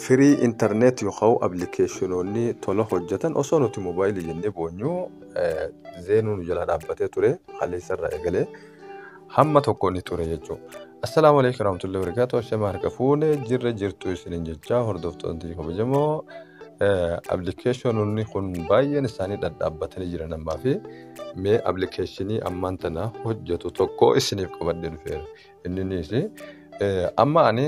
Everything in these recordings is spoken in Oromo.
firii intarneet yookaan appilikeeshinoonni tola hojjetan osoo nuti moobaayilii jennee boonyu zeenuu nu jala dhaabbatee ture kaleessarraa eegalee hamma tokko ni ture jechuudha. Assalaamu alaikum warahmatullahi wabarakatuh. Ashamaa harka fuune jirra jirtu isiniin jechaa hordoftoonni kabajamoo appilikeeshinoonni kun baay'een isaanii dhadhaabbatanii jiran ammaa fi mee appilikeeshinii ammaan tana hojjetu tokko isiniif qabadhee dhufeera. Inninis amma ani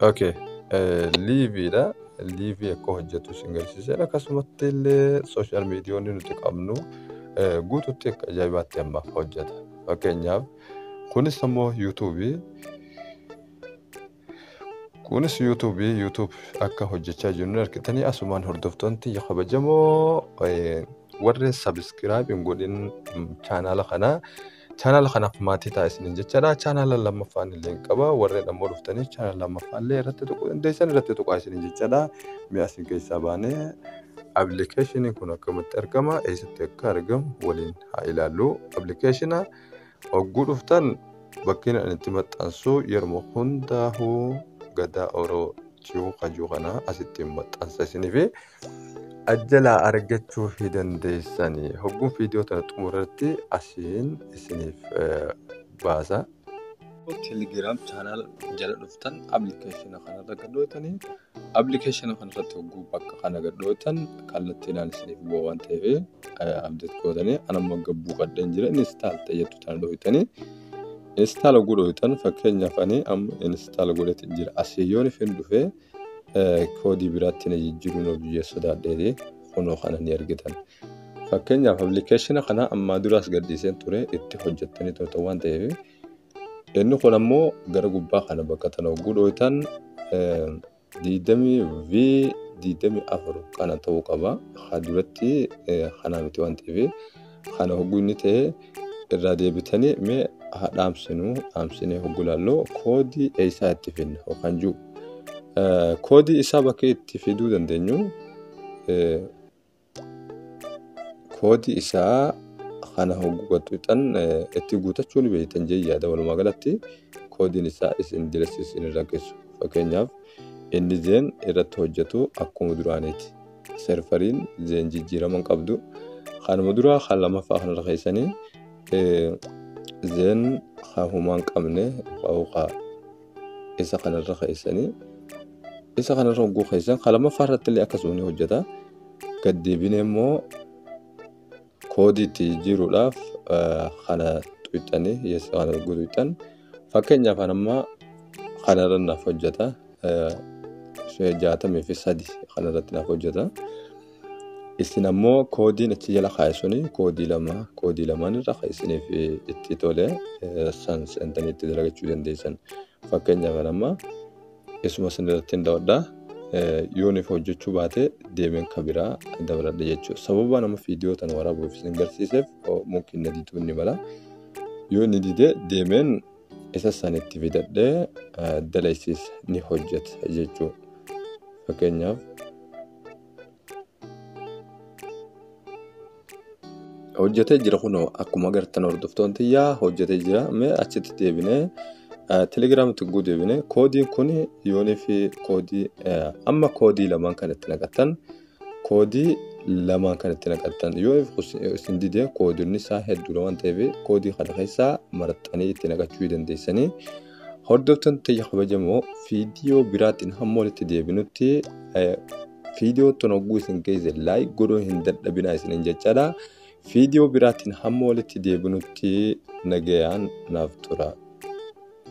Okay. Liiviidha. Liivii akka hojjetu isin garsiiseera. Akkasumatti illee sooshaal miidiyoonni nuti qabnu guututti akka ajaa'ibaatti amma hojjeta. Fakkeenyaaf kunis immoo yuutuubii. Kunis yuutuubii yuutuub akka hojjechaa jirru argitanii asumaan hordoftoonni kabajamoo warri sabiskiraayib hin godhin chaanaala kanaa Channel kanaaf maatii ta'a isiniin jechaadha. Channel lammaffaan illee hin qaba. Warreen ammoo dhuftanii channel lammaffaan illee irratti tuquu dandeessan irratti tuqaa isiniin jechaadha. Mi'a isin keessaa baanee appilikeeshiniin kun akkamitti argama eessatti akka argamu waliin haa ilaallu. Appilikeeshina hogguu dhuftan bakkeen ani itti maxxansu yeruma hundaa'uu gadaa oroo jiru kajuu kana asitti maxxansa isiniif. ajjalaa argachuu fi dandeessani hogguun viidiyoo tana xumurratti asiin isiniif eh, baasa. Telegram channel jala dhuftan application kanarra gadhootanii application kanarratti hogguu bakka kana gadhootan kallattiidhaan isiniif bu'a waan ta'eef eh, update gootanii anamma gabbuu qadheen jira install tayyattu tana dhooytanii install godhooytan fakkeenyaaf ani amma install godhetti jira asii yoon ifin dhufee koodii biraatti na jijjiiruun of jijjiiree sodaadheeti kunoo kana ni argitan. Fakkeenyaaf appilikeeshina kana ammaa duraas gadhiiseen ture itti hojjettanii turtan waan ta'eef inni kun ammoo gara gubbaa kana bakka tana hogguu dhooytan diidamii fi diidamii afur kana ta'uu qaba. Haa duratti kanaa miti waan ta'eef. Kana hogguu inni ta'e irraa deebitanii mee haa dhaamsinu dhaamsinee hogguu ilaallu koodii eessaa itti fidna yookaan jiru. Koodii isaa bakka itti fiduu dandeenyu koodii isaa kana hogguu gattuutan itti guutachuu ni beektan jee yaada walumaa galatti koodiin isaa isin diressiis isin irra geessu fakkeenyaaf inni jeen irratti hojjetu akkuma duraaniiti. serveriin zeen jijjiirama hin qabdu kanuma duraa kan lammaffaa kanarra keessanii zeen kan humaa hin qabne qawqaa isa kanarra keessanii isa kanarra hogguu keessan kan lammaffaa irratti illee akkasuma ni hojjeta gad deebinee immoo koodii itti jijjiiruudhaaf kana tuqxanii yes kana erguu tuqxan fakkeenyaaf kan ammaa kanarra naaf hojjeta jaatamii fi sadi kanarratti naaf hojjeta isin ammoo koodiin achi jala kaa'e suni koodii lama koodii lamaan irra kan isiniif itti tole san seentanii itti dalagachuu dandeessan fakkeenyaaf kan ammaa Isuma isin irratti hin dawadha. Yooniif hojjechuu baate deemeen ka biraa dabaladha jechuudha. Sababa nama viidiyoo tana waraabuuf isin garsiiseef mumkin na diduu ni mala. Yoo ni dide deemeen isa san itti fidadhee dalaysiis ni hojjeta jechuudha. Fakkeenyaaf hojjetee jira kunoo akkuma agartan hordoftoon tiyyaa hojjetee jira mee achitti deebinee telegiraam tugguu deebinee koodiin kun yoonii fi koodii amma koodii lamaan kan itti naqatan koodii lamaan kan itti naqatan yoo isin dide koodiin isaa hedduudha waan ta'eef koodii kana keessaa maraxxanii itti naqachuu dandeessanii. Hordoftoonni tiyya kabajamoo viidiyoo biraatiin hamma walitti deebinutti viidiyoo tun hogguu isin geesse laayik godhuu hin dadhabinaa isinin jechaadha. Viidiyoo biraatiin hamma walitti deebinutti nagayaan naaf tura.